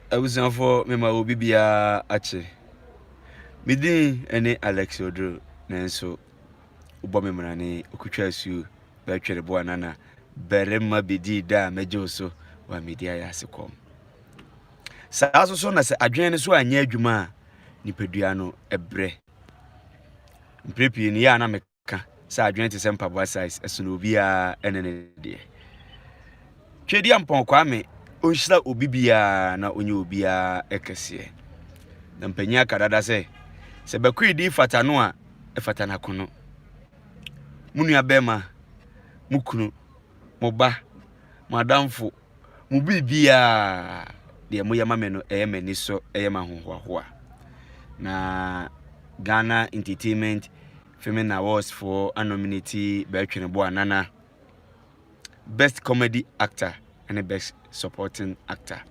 Abusuafoɔ mema obi biara akye. Me din ne Alex Oduro nanso wobɔ me mmerane okutwa asuo bɛtwere boa nana barima bɛdii da a mɛgye wo so wa medi ayɛ ase kɔm. Saa so so na sɛ adwene no so anyɛ adwuma a nipadua no ɛbrɛ. Mprɛ pii no yɛ a na meka ka sɛ adwene te sɛ mpaboa size ɛsono obiara ɛne ne deɛ twɛdi ampɔn kwame ɔnhyira obi biara na ɔnyɛ obiara ɛkɛseɛ na mpanyin aka dada sɛ sɛ bɛkoe din fata no a ɛfata n'akono mo nua bɛrima mo kunu mo ba mo adamfo Mo biribiara a, deɛ moyɛ ma me no, ɛyɛ m'ani so, ɛyɛ m'ahohoahoa. Na Ghana Entertainment Filming Awards foɔ anominate Bɛtwene Boa Nana Best Comedy Actor ne Best Supporting Actor.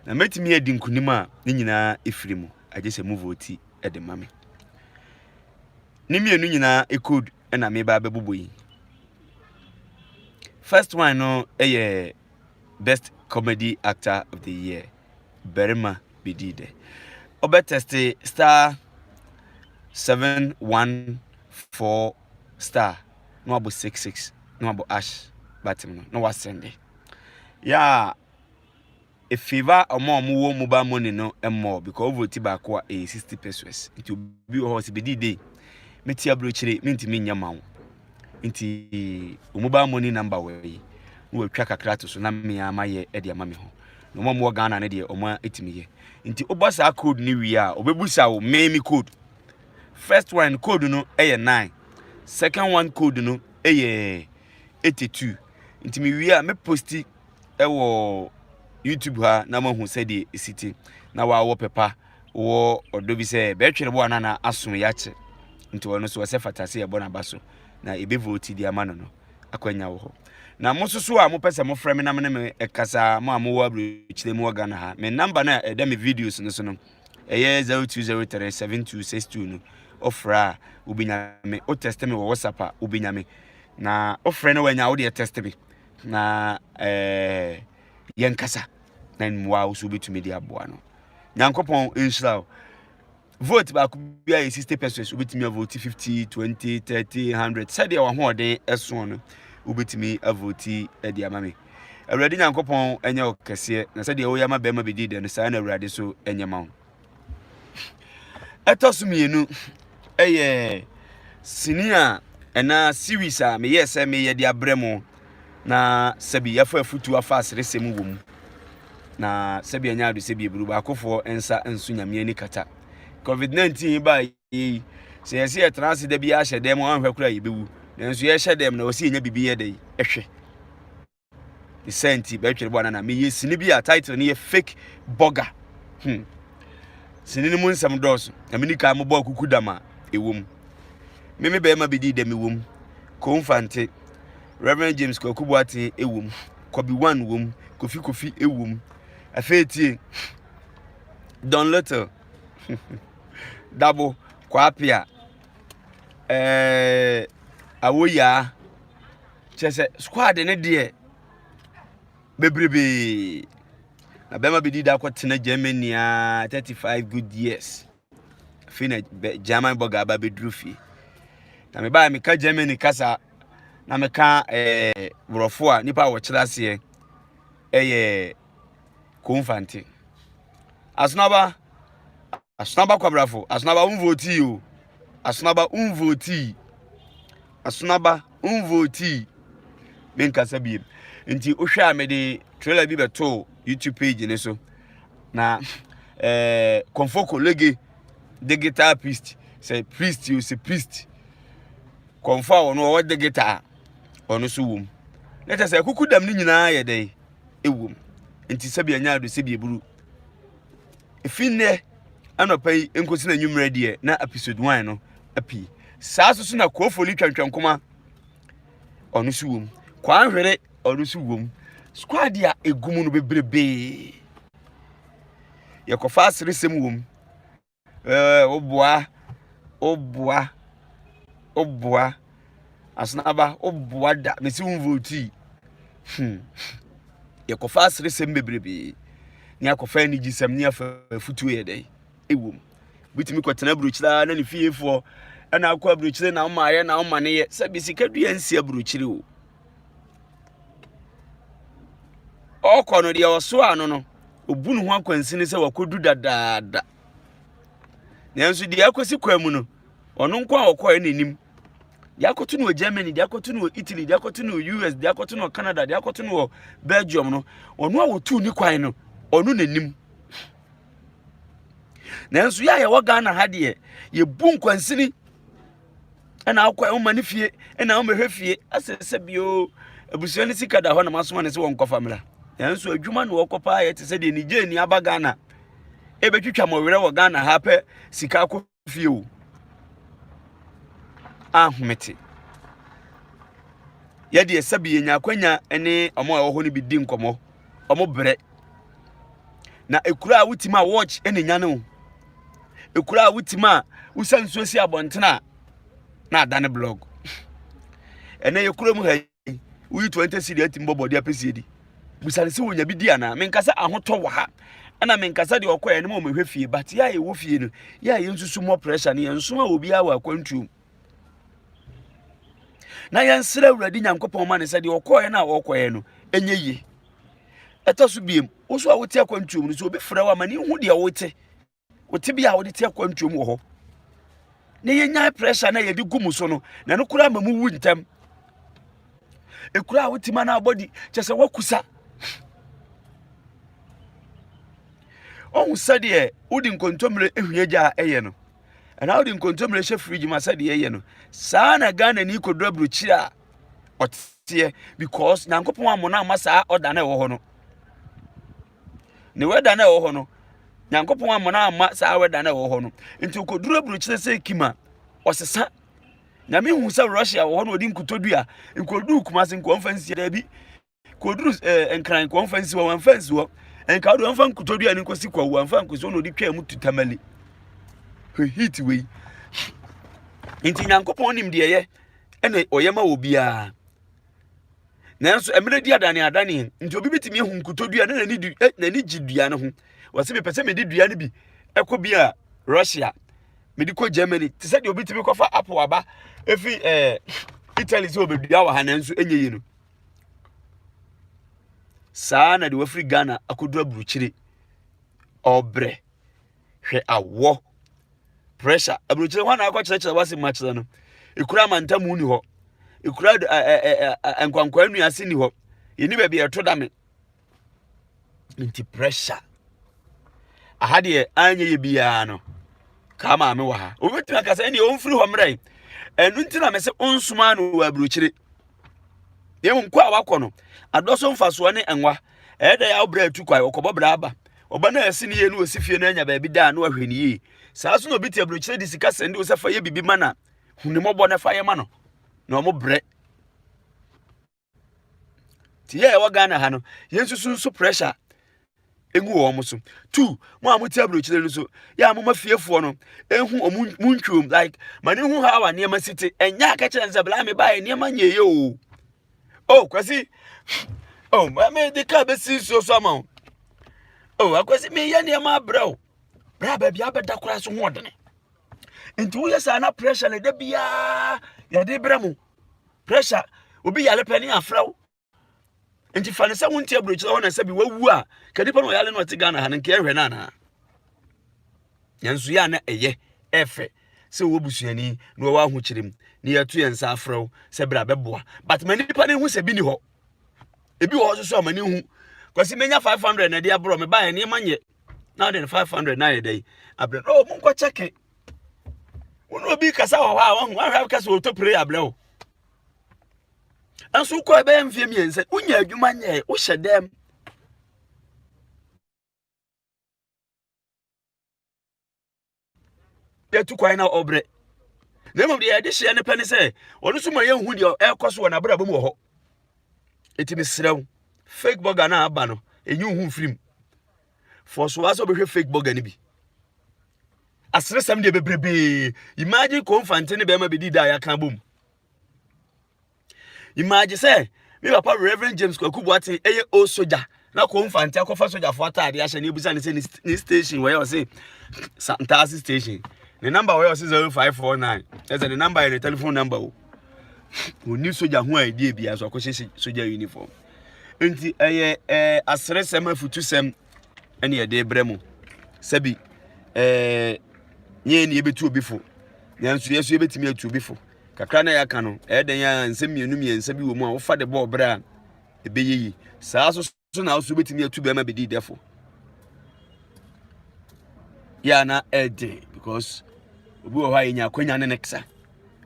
Na mɛtumi adi nkunim a, ne nyinaa ɛfiri mu, agye sɛ mo vote de ma me. Ne mmienu nyinaa code na meba abɛbobɔ yi. First one no yɛ best comedy actor of the year. Barima bɛdii dɛ. Ɔbɛtɛste star seven one four star na wabɔ six six na wabɔ ash button no na wasɛnde. Yɛ a Efeiva a wɔn a wɔwɔ mobile money no mmɔɔ because wo vote baako a ɛyɛ sixty pesos nti obi wɔ hɔ ɔsɛ bedi dei meti aburokyire mintumi nyɛ ma wo nti wo mobile money number wɔ yi na wɔatwa kakra to so na mmea ma yɛ ɛde ama me ho na wɔn a wɔwɔ Ghana no deɛ wɔn atumi yɛ nti wobɔ saa code no wie a wɔbɛbusa wo mmɛn mi code first one code no ɛyɛ nine second one code no ɛyɛ eighty two nti me wie a me posti wɔ youtube ha na moahu sɛdeɛ ɛsi te na waawɔ pɛpa wɔ ɔdɔ bi sɛ bɛtwere bo a na na aso yɛ akyɛ nti ɔno so ɔsɛ fata sɛ yɛbɔ n'aba so na ɛbɛ vote de ama no no akwanya wɔ hɔ na mo soso a mopɛ sɛ mofrɛ me na me ne me ɛkasa mo a mowɔ aburokyire mu wɔ Ghana ha me namba no a ɛda me videos no so no ɛyɛ 0203 7262 no ɔfrɛ a wobɛnya me wotɛste me wɔ whatsapp a wobɛnya me na wofrɛ no wanya wode ɛtɛste me na yɛnkasa na mmoa wo so wobɛtumi de aboa no nyankopɔn nhyira wo vote baako bi ayɛ 60 pesos wobɛtumi avote 50 20 30 100 sɛdeɛ wahoɔden ɛsoɔ no wobɛtumi avote de ama me awurade nyankopɔn ɛnyɛ wo kɛseɛ na sɛdeɛ woyɛ ma bɛrima bɛdi dɛ no saa na awurade so ɛnyɛ ma wo ɛtɔ so mmienu ɛyɛ sini a ɛnaa series a meyɛ sɛ meyɛ de abrɛ mo na sɛbi yɛfa afutuo afa aseresɛm wɔ mu na sɛbi ɛnyɛ ado sɛbi eburu baakofoɔ nsa nso nyame ani kata covid 19 baa yɛyi sɛ yɛsɛ yɛtena ase da bi ahyɛ dɛm anhwɛ koraa yɛbɛwu nanso yɛhyɛ dɛm na wɔsɛ yɛnya biribi yɛ dɛ ɛhwɛ ne saa nti bɛtwere bɔ anana meyɛ sini bi a title no yɛ fake burger hmm sini no mu nsɛm dɔɔso na mene kan mobɔ akuku dam a ɛwɔ mu me me bɛrima bi dii dɛm ɛwɔ mu konfante reverend james kwaku boaten ɛwɔ mu kɔbi one wɔ mu kofi kofi ɛwɔ mu afei tie don little dabo kwapia ɛɛ eh, awoyaa Kyerɛ sɛ squad no deɛ bebrebee. Na bɛrima bi di da kɔtena Germany a 35 good years. Afei na German bɔga aba bɛduru fie. Na mebaa meka Germany kasa na meka ɛɛ borɔfo a nipa a wɔkyerɛ aseɛ ɛyɛ konfante. Asenaba Asonaba kwabrafo, Asonaba wo nvotii o. Asonaba wo nvotii. Asonaba wo nvotii. Me nkasa biem. Nti wohwɛ a mede trailer bi bɛtoo YouTube page ne so. Na eh, Konfoko Lege de guitar priest sɛ priest o sɛ priest. Konfo a wɔn wɔwɔ de guitar wɔn nso wom. Na kyerɛ sɛ kuku dam ne nyinaa yɛ dɛn ewom. Nti sɛbi anya ado sɛbi eburu. Efi nnɛ anɔpa yi nkosi n'anwummerɛ deɛ na episode one no api. Saa nso so na Koofo ne Twantwankoma ɔno nso wom. Kwanhwere ɔno nso wom. Squad a egu mu no bebrebee. Yɛkɔfa aseresɛm wom. Ɛɛ woboa woboa woboa. Asenaba wo boa da me si wo votii. Hmm. Yɛkɔfa aseresɛm bebrebe. Ne akɔfa anigyesɛm ne afa afutuo yɛ dɛn? Ewom. Bitumi kɔtena aburokyire ara na ne fiefoɔ ɛna akɔ aburokyire na ɔma ayɛ na ɔma ne yɛ. Sɛ bisika dua nsi aburokyire o. Ɔkɔ no deɛ ɔsoa ano no, obu ne ho akwansini sɛ wakɔdu dadaada. Nanso deɛ akɔsi kwan mu no, ɔno nko a ɔkɔɛ na anim de akɔto no wɔ germany de akɔto no wɔ italy de akɔto no wɔ us de akɔto no wɔ canada de akɔto no wɔ belgium no ɔno a wɔtu ne kwan no ɔno na anim nanso yɛ a yɛwɔ ghana ha deɛ yɛbu nkwansini ɛna akɔ a ɔma ne fie ɛna ɔma hwɛ fie asɛ sɛ bio abusua ne sika da hɔ na masoma ne sɛ wɔn kɔfa mmra nanso adwuma na wɔkɔ paa yɛ te sɛ deɛ nigye ni aba ghana ebetwitwa mɔwerɛ wɔ ghana ha pɛ sika akɔ fie o a home te yɛdeɛ sɛbi yɛnya akwanya ne ɔmo a ɛwɔ hɔ no bi di nkɔmmɔ ɔmo brɛ na ekura a wotumi a watch ne nya no ekura a wotumi a wosa nsuo si abɔnten a na ada ne blog ɛnɛ yɛkura mu ha Woyi twenty cedi atumi bɔ bɔde apɛ si adi. Bisa no sɛ wonya bi di anaa. Menka sɛ ahotɔ wɔ ha. Ɛna menka sɛ deɛ ɔkɔɛ no ma wɔmɛhwɛ fie. But yɛ a yɛwɔ fie no, yɛ a yɛnsusu mmɔ pressure no yɛnso a obiara wɔ akwantuom. Na yɛnsrɛ Awurade Nyankopɔn ma no sɛ deɛ ɔkɔɛ no a ɔkɔɛ no ɛnyɛ yie. Ɛtɔ so biem, wo so a wote akwantuom no sɛ obi frɛ wo ama ne hu deɛ wote. Wɔ tebea a wɔde te akwantuo mu wɔ hɔ na yɛnyae pressure na yɛde gu mu so no na ɛno koraa ma mu wu ntɛm ɛkura a wotumi ana abɔdi kyɛ sɛ woakusa ɔhu sɛdeɛ wode nkontommire hwie gya a ɛyɛ no ɛna wode nkontommire hyɛ fridge ma sɛdeɛ ɛyɛ no saa na ghana ni kɔduru aburokyiri a ɔteɛ because nyankopɔn ammɔ no amma saa ɔda no ɛwɔ hɔ no Ne wɛda no a ɛwɔ hɔ no, Nyankopɔn amma no amma saa wɛda no a ɛwɔ hɔ no. Nti okoduru aburokyire sɛ kim a, ɔsesa. Nyame hu sɛ Russia wɔ hɔ na ɔde nkotodwe a, nkoduru Kumase nka ɔmfa nsi daabi. Koduru ɛɛ eh, Nkran nka ɔmfa nsi hɔ, wɔmfa nsi hɔ. Nka wode ɔmfa nkotodwe a ne nkosi kwawu, wɔmfa nkosi hɔ na ɔde twaa mu tu tamale. Hwɛ heat wei. Nti Nyankopɔn nim deɛ ɛyɛ ɛna ɔyɛ ma wɔ biara. nanso mmerɛ di adane adane nti obi bɛtumi ahu nkotodwe a na n'ani du eh, n'ani gye dua no ho wɔsɛ mepɛ sɛ mede dua no bi ɛkɔ bi a russia mede kɔ germany te sɛ deɛ obi tumi kɔfa apple aba ɛfiri eh, italy sɛ ɔbɛdua wɔ ha nanso ɛnyɛ yi no saa na de wafiri ghana akɔduru aburukyire ɔbrɛ hwɛ awɔ pressure aburokyerɛ hɔ na akɔ kyerɛkyerɛ wase mu akyerɛ no ekura amantamu ni hɔ ekura ɛɛ nkwankwa nua ase ni hɔ yɛni baabi ɛto dame nti pressure aha deɛ anyɛ yɛ biara no kaa maame wɔ ha obetumi akasa ɛnni ɔnfiri hɔ mmerɛ ɛnu nti na mɛ sɛ ɔnsoma no wɔ aburokyerɛ yɛhu kɔ a wakɔ no adɔ so mfasoɔ ne nwa ɛyɛ dɛ a wobrɛ atu kwae ɔkɔbɔ brɛ aba ɔba no a ɛsi ne yie no ɔsi fie no anya baabi da a na wahwɛ ne yie saa so na obi te aburokyerɛ de sika sɛnde wo sɛ fa yɛ biribi ma na hu ne mmɔbɔ na fa yɛ ma no na ɔmo brɛ te yɛ ɛwɔ ghana ha no yɛnsusu nso pressure ngu wɔn mo so two mo a mo ti aburokyire no so yɛ a mo ma fiefoɔ no ehu wɔn mo ntwom like ma ne hu ha wa nneɛma si te ɛnyɛ akɛkyerɛ nsa bla me ba yɛ nneɛma nyɛ yɛ o o kwasi o ma me de kaa bɛ si nsuo so ama o o akwasi mi yɛ nneɛma abrɛ o bra baabi abɛda koraa so ho ɔdene nti woyɛ saa na pressure na ɛda biara yɛde brɛ mo pressure obi yare pɛ ne afrɛ wo. nti fa no sɛ wonte aburokyerɛ hɔ na sɛ bi wawu a ka nipa no ɔyale no ɔte ghana ha no nka ɛhwɛ no anaa nanso yɛ a na ɛyɛ ɛfɛ sɛ wɔwɔ busuani na wɔwɔ ahokyerɛ mu na yɛato yɛn nsa afrɛ wo sɛ berɛ a bɛboa but ma nipa no hu sɛ bi ni hɔ ebi wɔ hɔ soso a ma ne hu kwasi menya 500 na ɛde aborɔ me baeɛ nneɛma nyɛ na wode no 500 na ayɛ dɛn abrɛ no ɔmo nkɔ kyɛke wo ne obi kasa wɔ hɔ a wahu ahwɛ kasa ɔtɔ pere abrɛ wo nanso wokɔ ɛbɛyɛ mfeɛ mmiɛnsa wonya adwuma nyɛɛ wohyɛ dɛm yɛtu kwan na ɔbrɛ na mmom deɛ yɛde hyeɛ no pɛ ne sɛ ɔno nso ma yɛnhu deɛ ɛrekɔ so wɔ n'abrabɔ mu wɔ hɔ ɛti mesrɛ wo fake burger no a aba no ɛnyi wo ho mfirim fɔ so a sɛ wobɛhwɛ fake burger no bi aseresɛm deɛ bebrebee imagine kɔmfante ne bɛrima bɛdi da a yɛaka abom imagine sɛ me papa reverend james kwaku boaten ɛyɛ o soja na kɔmfante akɔfa sogyafoɔ ataade ahyɛ ne abusa ne sɛ ne station wɔyɛ ɔse ntaase station ne number wɔyɛ ɔse 0549 ɛsɛ ne number yɛ ne telephone number o ɔni soja ho a ɛdi abia so akɔhyɛ soja uniform nti ɛyɛ aseresɛm afutusɛm ɛne yɛde rebrɛ mo sɛbi ɛɛ nyɛ yɛn na yɛbɛtu obi fo nanso yɛn nso yɛbɛtumi atu obi fo kakra na yɛaka no ɛyɛ dɛn a nsɛm mmienu mmiɛnsa bi wɔ mu a wofa de bɔ ɔbrɛ a ɛbɛyɛ yi saa so so na nso wobɛtumi atu bɛrima bɛdi dɛfo yɛ a na ɛden because obi wɔ hɔ a yɛnya akwanya ne ne ksa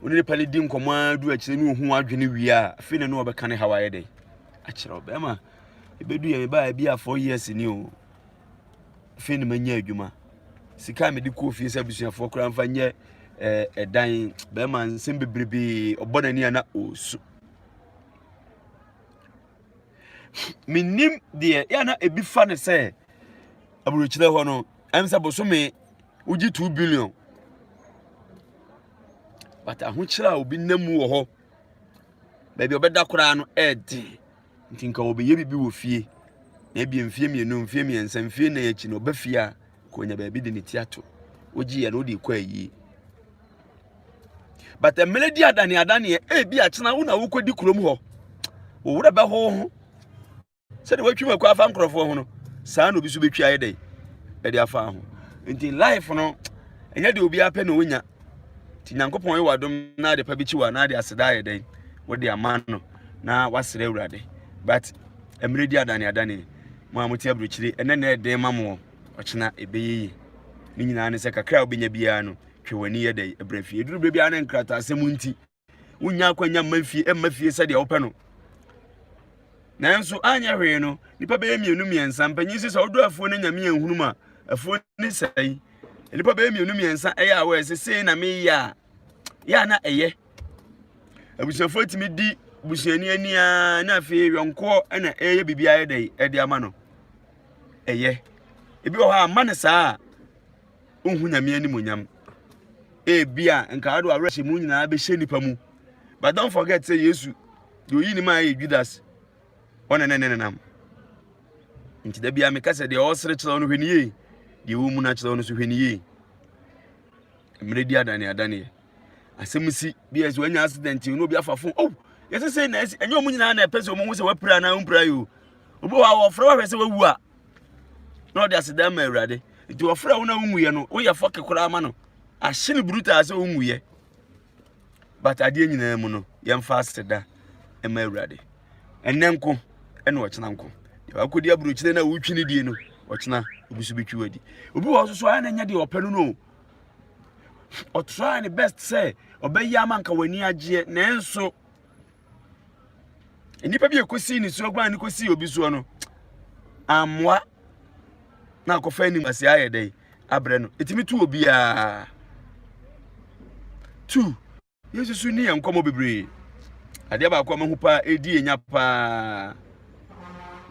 wone nipa no di nkɔmmɔ a du akyerɛ ne ɔhu adwene wie a afei na ne wɔbɛka ne haw ayɛ dɛn akyerɛ wo bɛrima Ebedu yɛ mebaa ebi a four years ni o. Afei na manya adwuma. Sika a mede kɔɔ fie sɛ abusuafoɔ koraa mfa nyɛ ɛɛ eh, ɛdan bɛrima nsɛm bebrebe ɔbɔ n'ani a na ɔresu. Menim deɛ yɛ na ebi fa ne sɛ aburokyerɛ hɔ no ɛm sɛ bosome wogye two billion but ahokyerɛ a obi nam mu wɔ hɔ baabi ɔbɛda koraa no ɛɛden Nti nka wɔbɛyɛ biribi wɔ fie, na ebia mfeɛ mmienu, mfeɛ mmiɛnsa, mfeɛ nnan akyi no ɔba fie a, ka ɔnya baabi de ne ti ato. Wogye yɛ no wode kɔ ayie. But mmerɛ di adane adaneɛ, ebi akyena wo na wokɔdi kurom hɔ. Wo werɛ bɛho ho. Sɛdeɛ watwi mu akɔ afa nkurɔfoɔ ho no, saa na obi so bɛtwi ayɛ dɛn ɛde afa ho. Nti life no, ɛnyɛ deɛ obiara pɛ na ɔnya. nti nyankopɔn yɛ wadom na ade pa bi kyi wa na ade aseda ayɛ dɛn wode ama no na wasrɛ awurade but mmerɛ di adane adane mo a mote aburokyire ɛnɛ na ɛden ma mo ɔkyena ɛbɛyɛ yi ne nyinaa ne sɛ kakra a wobɛnya biara no twɛ w'ani yɛ dɛn ɛbrɛ fie ɛduru berɛ biara ne nkrataasɛm nti wonnya akwanya mma fie mma fie sɛdeɛ wopɛ no nanso anyɛ hwee no nipa bɛyɛ mmienu mmiɛnsa mpanyin sɛ sɛ ɔdɔ afuo no nyame anhunu mu a afuo ne sɛe nipa bɛyɛ mmienu mmiɛnsa ɛyɛ a wɔyɛ sɛ sei na meyɛ a yɛ a na ɛyɛ abusuafoɔ tumi di busuani ani a na afei yɔnkoɔ ɛna ɛyɛ biribi ayɛ dɛ ɛde ama no ɛyɛ ebi wɔ hɔ a ma ne saa a nhu nyame animonyam ebia nka ɔde awerɛhyɛ mu nyinaa bɛhyɛ nipa mu but don't forget sɛ yesu deɛ oyi ne mu a ɛyɛ judas ɔne ne ne nenam nti da bia meka sɛ deɛ ɔsere kyerɛw no hwɛ ne yie deɛ ɔmu no akyerɛw no so hwɛ ne yie mmerɛ di adane adaneɛ asɛm si bi ɛsɛ wanya accident no obi afa fon oh yɛsɛ sɛ na ɛsi ɛnyɛ ɔmu nyinaa na ɛpɛ sɛ ɔmu ho sɛ wapira anaa ɔmpira yi o obi wɔ a wɔfrɛ wahwɛ sɛ wawu a na ɔde aseda ma awurade nti wɔfrɛ wo na wonwuiɛ no woyɛ fɔke koraa ma no ahye no brutaa sɛ wonwuiɛ but adeɛ nyinaa mu no yɛmfa aseda ma awurade ɛnɛ nko ɛna ɔkyena nko wakɔdi aburokyire no a wotwi no die no ɔkyena obi so bɛtwi wadi obi wɔ so so ayɛ na ɛnyɛ deɛ ɔpɛ no no ɔtraa ne best sɛ ɔbɛyɛ ama nka w'ani agyeɛ nanso nnipa bi a ɛkɔsii ne soɔ guan ne kɔsii obi soɔ no ammoa na akɔfa anim ase ayɛ dɛ abrɛ no ɛtumi tu obiara tu yesu so ni yɛn nkɔmmɔ bebree adeɛ baako a mahu paa ɛdi yɛnya paa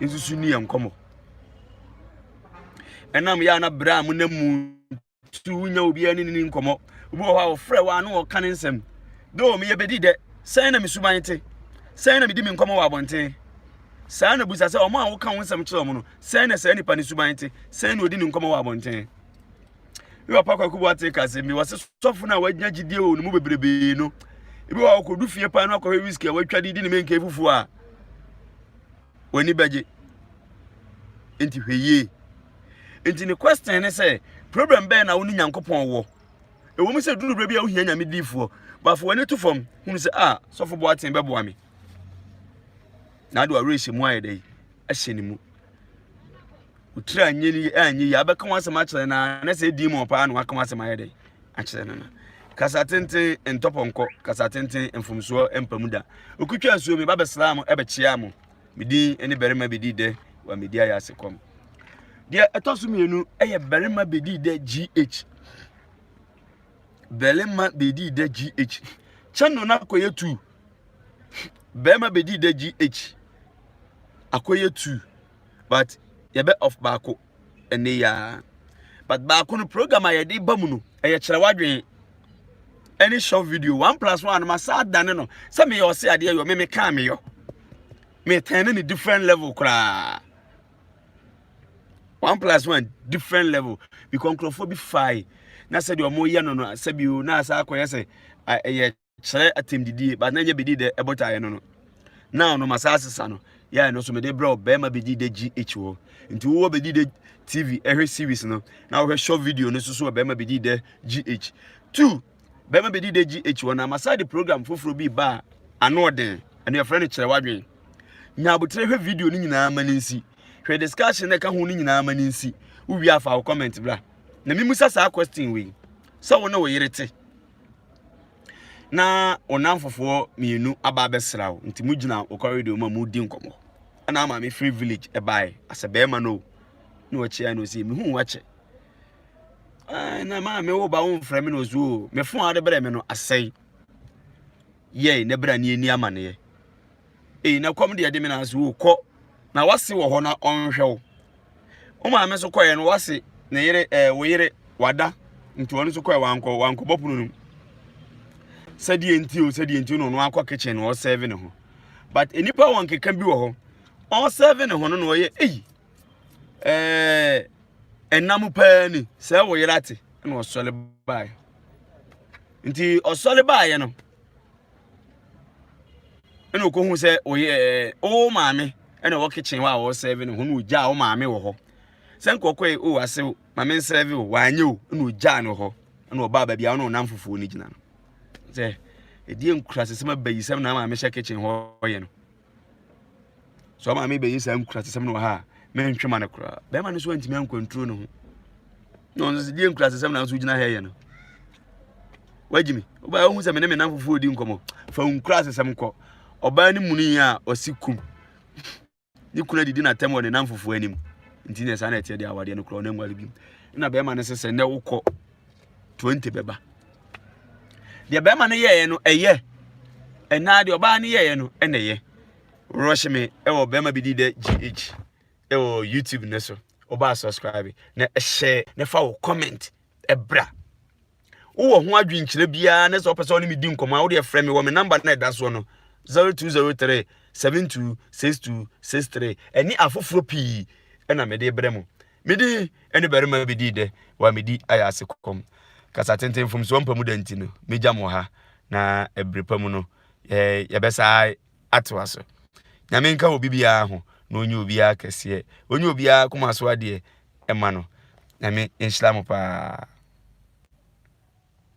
yesu so ni yɛn nkɔmmɔ ɛnam yɛ a na berɛ a monam mu so wonya obiara ne ne nkɔmmɔ obi wɔ hɔ a ɔfrɛ wɔ ano ɔka ne nsɛm dɛ meyɛ bɛdi dɛ sɛn na mesuban te sɛn na medi me nkɔmmɔ wɔ abɔnten saa na busa sɛ ɔmo a woka wo nsɛm kyerɛ ɔmo no sɛn na saa nipa ne suban te sɛn na ɔdi ne nkɔmmɔ wɔ abɔnten bi wɔ pa kwaku bo ate ka sɛ mi wɔ se sɔfo no a wagya gyidie wɔ ne mu bebrebee no ebi wɔ ɔkɔdu fie paa no akɔhwɛ whisky a watwa de di ne menka fufuo a w'ani bɛgye nti hwɛ yie nti ne question ne sɛ problem bɛyɛ na wo ne nyankopɔn wɔ ɛwɔ mu sɛ duru berɛ bi a wohia nyame diifoɔ bafo w'ani to fam hunu sɛ a sɔfo boa ten bɛboa me na ade awerɛhyɛ mu ayɛ dɛ ahyɛ ne mu otiri a nye ni a nye yi abɛka ho asɛm akyerɛ no a na sɛ ɛdi mu ɔpaa na waka ho asɛm ayɛ dɛ akyerɛ no no kasa tenten ntɔpɔnkɔ kasa tenten mfomsoɔ mpamu da ɔkutwa asuo me ba bɛsraa mo ɛbɛkyea mo medin ne barima bɛdi dɛ wa medi ayɛ ase kɔm deɛ ɛtɔ so mmienu ɛyɛ barima bɛdi dɛ gh barima bɛdi dɛ gh kyɛno no akɔyɛ tu barima bɛdi dɛ gh akɔyɛ tu but yɛbɛ off baako ɛnɛ yi ara but baako no program a yɛde ba mu no ɛyɛ kyerɛ wadwene ɛne short video one plus one no ma saa dane no sɛ meyɛ ɔse adeɛ yɔ me mekaa meyɔ metɛn ne ne different level koraa one plus one different level because nkurɔfoɔ bi fae na sɛdeɛ wɔyɛ no no sɛbi o na asa akɔyɛ sɛ ɛyɛ srɛ atɛmdidie but na ɛnyɛ bɛdi dɛ ɛbɔ taeɛ no no na ɔno ma saa sesa no yɛayɛ no so mede brɛ ɔbɛrima bɛdi dɛ gh wɔ nti wowɔ bɛdi dɛ tv ɛhwɛ series no na wohwɛ short video no soso ɔbɛrima bɛdi dɛ gh two bɛrima bɛdi dɛ gh wɔ na ma saa de program foforɔ bi ba a ano ɔden ɛno yɛfrɛ no kyerɛ wadwen nya abotire hwɛ video no nyinaa ma no nsi hwɛ discussion na ɛka ho no nyinaa ma no nsi wowie afa wo comment bra na memusa saa question wei sɛ wo ne wo yere te na wo nnamfofoɔ mmienu aba abɛsra wo nti mogyina wo corridor mu a moredi nkɔmmɔ ɛna ama mefiri village ɛbae asɛ bɛrima no o na ɔkyea no sɛ mehu wakyɛ na maa me wo ba wo mfrɛ me na ɔsi o me fo a wode brɛ me no asɛe yɛe na bra ne ani amaneɛ Ei, na kɔm deɛ de me na ase o, kɔ, na w'ase wɔ hɔ na ɔnhwɛ wo. Wo maame nso kɔeɛ no, w'ase ne yere ɛɛ wo yere wada nti ɔno nso kɔɛ wankɔ wankɔ bɔ pono no mu. Sɛdeɛ nti o sɛdeɛ nti na ɔno akɔ kitchen na ɔsɛve ne ho. But nnipa wɔn keka bi wɔ hɔ, ɔsɛve ne ho no na ɔyɛ ei ɛɛ ɛnam paa ni sɛ wo yere ate na ɔsɔre baeɛ. Nti ɔsɔre baeɛ no. ɛna okohu sɛ ɔyɛ ɛɛ o maame ɛna ɔwɔ kitchen hɔ a ɔresɛve no ho na ogyaa o maame wɔ hɔ sɛ nkɔkɔ yi o ase o maame nsɛve o wanyɛ o ɛna ogyaa no hɔ ɛna ɔbaa baabi a ɔna ɔnam fufuo no gyina no sɛ ɛdeɛ nkurasɛsɛm abayisɛm na maame hyɛ kitchen hɔ yɛ no sɛ ɔma me bɛyi saa nkurasesɛm no wɔ ha a mentwe ma no koraa bɛrima no so antumi ankwanturo no ho na ɔno sɛ deɛ nkurasesɛm na nso gyina ha yɛ no wagyi me wobaa wohu sɛ me ne me namfofoɔ di nkɔmmɔ fa nkurasesɛm kɔ ɔbaa no mu no yi a ɔsi kum ne kunu adidi n'atam wɔ ne namfofoɔ anim nti ne saa na ɛteɛ deɛ awadeɛ no korɔ ɔno anwale bi na bɛrima no sɛ sɛ nnɛ wokɔ 20 bɛba deɛ bɛrima no yɛeɛ no ɛyɛ ɛnaa deɛ ɔbaa no yɛeɛ no ɛna ɛyɛ rush me ɛwɔ bɛrima bi di dɛ gh ɛwɔ youtube no so ɔbaa subscribe na ɛhyɛ na fa wɔ comment ɛbra wowɔ ho adwenkyerɛ biara ne sɛ wopɛ sɛ ɔne medi nkɔmmɔ a wode ɛfrɛ me wɔ me namba no ɛda soɔ no 0203 726263 ɛne afoforɔ pii ɛna mede brɛ mu Mede ɛne barima bi dii dɛ wɔ a medi ayɛ ase kɔm. Kasa tenten mfomsoɔ mpa mu da nti no, mɛgya mo wɔ ha, na ɛberɛ pa mu no, yɛ, yɛbɛsaa atoa so. Nyame nka obi biara ho, na ɔnyi obiara kɛseɛ. Ɔnyi obiara koma so adeɛ mma no. Nyame nhyira mo paa.